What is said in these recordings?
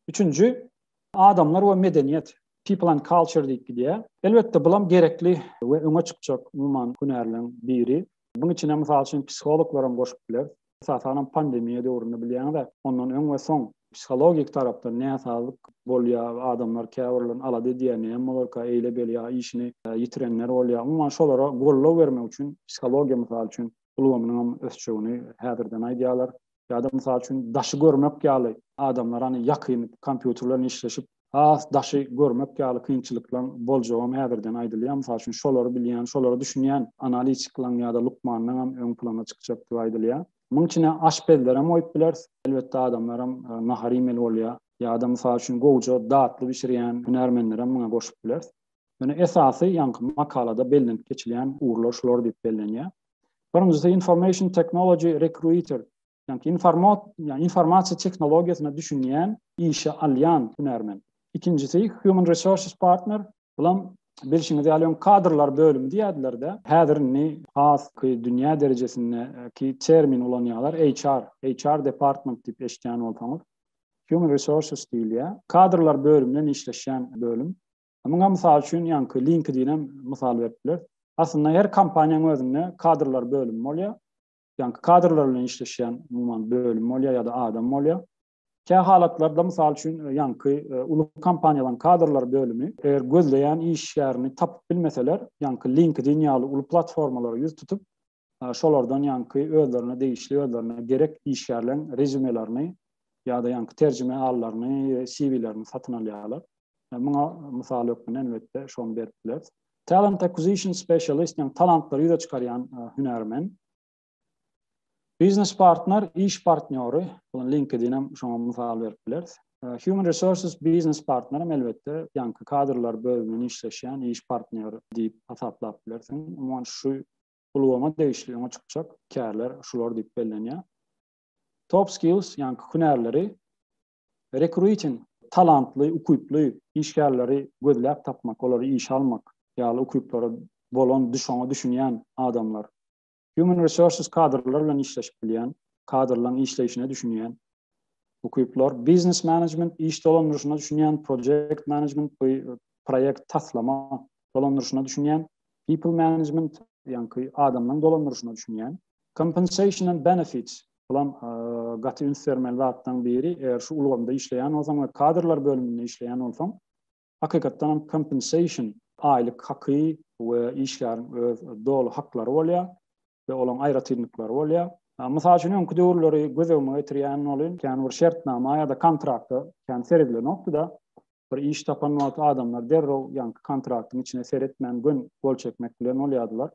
Üçünji, adamlar we medeniýet, people and culture diýip gidýär. Elbetde, bulam gerekli we öňe çykjak umuman hünärleriň biri. Buň içine, mysal üçin, psihologlar hem goşup bileris. Esasanam pandemiýa döwründe bilýäňiz-ä, ondan öň we soň psihologik tarapdan näsazlyk bolýar, adamlar käbirlerini alada edýär, näme bolarka, eýle-beýle ýa işini ýitirenler bolýar. Umuman, şolara goldaw bermek üçin psihologiýa, mysal üçin, ulgamynyňam ösjegini häzirden aýdýarlar. Ýa-da, mysal üçin, daşy görmek ýaly adamlar, hany, ýakyn kompýuter bilen işleşip, has daşy görmek ýaly kynçylyklaryň boljagam häzirden aýdylýar. Mysal üçin, şolary bilýän, şolara düşünýän analitikleň ýa-da lukmanlaňam öň plana çykjakdygy aýdylýar. Munuň içine aşpezlerem goýup bileris. Elbetde, adamlaram nahar iýmeli bolýar. Ýa-da, mysal üçin, gowja datly bişirýän hünärmenlerem muňa goşup bileris. Ýöne esasy ýaňky makalada bellenip geçilýän ugurlar şular diýip bellenýär. Birinjisi information technology recruiter, ýaňky informat, ýa informasiýa tehnologiýasyna düşünýän, işe alýan hünärmen. Ikinjisi human resources partner, bulam bilşiňiz ýaly öň kadrlar bölümi diýýärdiler-de, häzir indi has dünýä derejesindäki termin ulanýarlar, HR, HR department diýip eşitýän bolsaňyz, human resources diýilýär. Kadrlar bölüminde işleşýän bölüm. Muňa mysal üçin ýaňky LinkedIn-em mysal berip bileris. Aslynda her kompaniýanyň özünde kadrlar bölümi bolýar. Ýaňky kadrlar bilen işleşýän umuman bölüm bolýar ýa-da adam bolýar. Kä halatlarda mysal üçin e, ýaňky e, uly kompaniýalaryň kadrlar bölümi eger gözleýän işgärini tapyp bilmeseler, ýaňky LinkedIn ýaly uly platformalara ýüz tutup, şolardan ýaňky özlerine degişli, özlerine gerek işgärleriň rezýumelaryny ýa-da ýaňky terjime alylaryny, CV-lerini satyn alýarlar. Muňa mysal hökmünde elbetde şony berip bileris. Talent Acquisition Specialist, ýagny talantlary ýüze çykarýan hünärmen. Biznes partner, iş partnýory, buna LinkedIn hem şoňa mysal berip bileris. Human Resources Biznes partner hem elbetde ýaňky kadrlar bölüminde işleşýän iş partnýory diýip hasaplap bilersiň. Umuman şu ulgama degişli öňe çykjak kärler şular diýip bellenýär. Top skills, ýagny hünärleri rekruiting, talantly, ukyply işgärleri gözläp tapmak, olary işe almak ýaly ukyplary bolan, şoňa düşünýän adamlar. Human resources kadrlar bilen işleşip bilýän, kadrlaryň işleýşine düşünýän ukyplar, biznes management, iş dolandyryşyna düşünýän, project management, proýekt taslama dolandyryşyna düşünýän, people management, ýaňky adamlaryň dolandyryşyna düşünýän, compensation and benefits, bulam gaty üns bermeli zatlaryň biri, eger şu ulgamda işleýän bolsaň we kadrlar bölüminde işleýän bolsaň, hakykatdan hem compensation, aýlyk haky we işgäriň öz doly haklary bolýar. we olaryň aýratynlyklary bolýar. Mysal üçin, öňki döwürleri göz öňüme getirýän bolyn, kän bir şertnama ýa-da kontraktda kän seredilnokdy-da, bir iş tapan wagty adamlar derrew ýaňky kontraktyň içine seretmän gön gol çekmek bilen bolýardylar.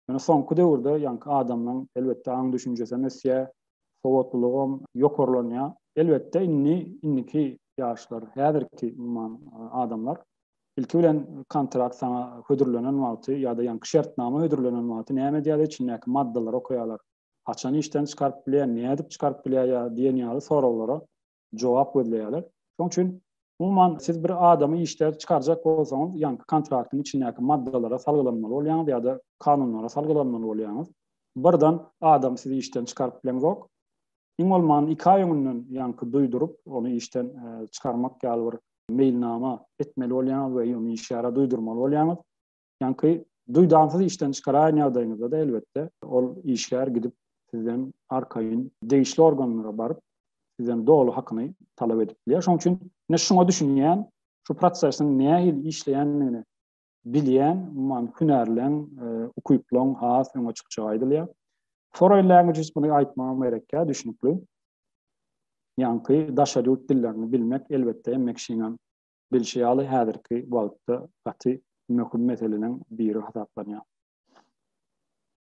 Ýöne soňky döwürde ýaňky adamlaryň elbetde aň düşünjesi hem ösýär, sowatlylygy hem ýokarlanýar. Elbetde indi indiki ýaşlar, häzirki umuman adamlar Ilki bilen kontrakt saňa hödürlenen wagty ýa-da ýaňky şertnama hödürlenen wagty näme edýärler içindäki maddalary okaýarlar. Haçan işden çykaryp bilýär, nädip çykaryp bilýär ýa diýen ýaly soraglara jogap gözleýärler. Şoň üçin umuman siz bir adamy işden çykarjak bolsaňyz ýaňky kontraktyň içindäki maddalara salgylanmaly bolýaňyz ýa-da kanunlara salgylanmaly bolýaňyz. Birden adam sizi işden çykaryp bileňzok. Iň bolman iki aý öňünden ýaňky duýduryp ony işden çykarmak ýaly bir meýilnama etmeli bolýaňyz we ýöne işgäre duýdurmaly bolýaňyz. Ýaňky duýdansyz işden çykaraýan ýagdaýyňyzda-da elbetde ol işgär gidip sizden arkaýyn degişli organlara baryp, sizden doly hakyny talap edip bilýär. Şonuň üçin ne şuňa düşünýän, şu prosesiň nähili işleýändigini bilýän, umuman, hünärleň, ukyplaň has öňe çykjagy aýdylýar. Foreign languages muny aýtmagam gerekkä, düşnükli. Ýaňky daşary ýurt dillerini bilmek, elbetde, Mekşiniň bilşi ýaly, häzirki wagtda gaty möhüm meseleleriň biri hasaplanýar.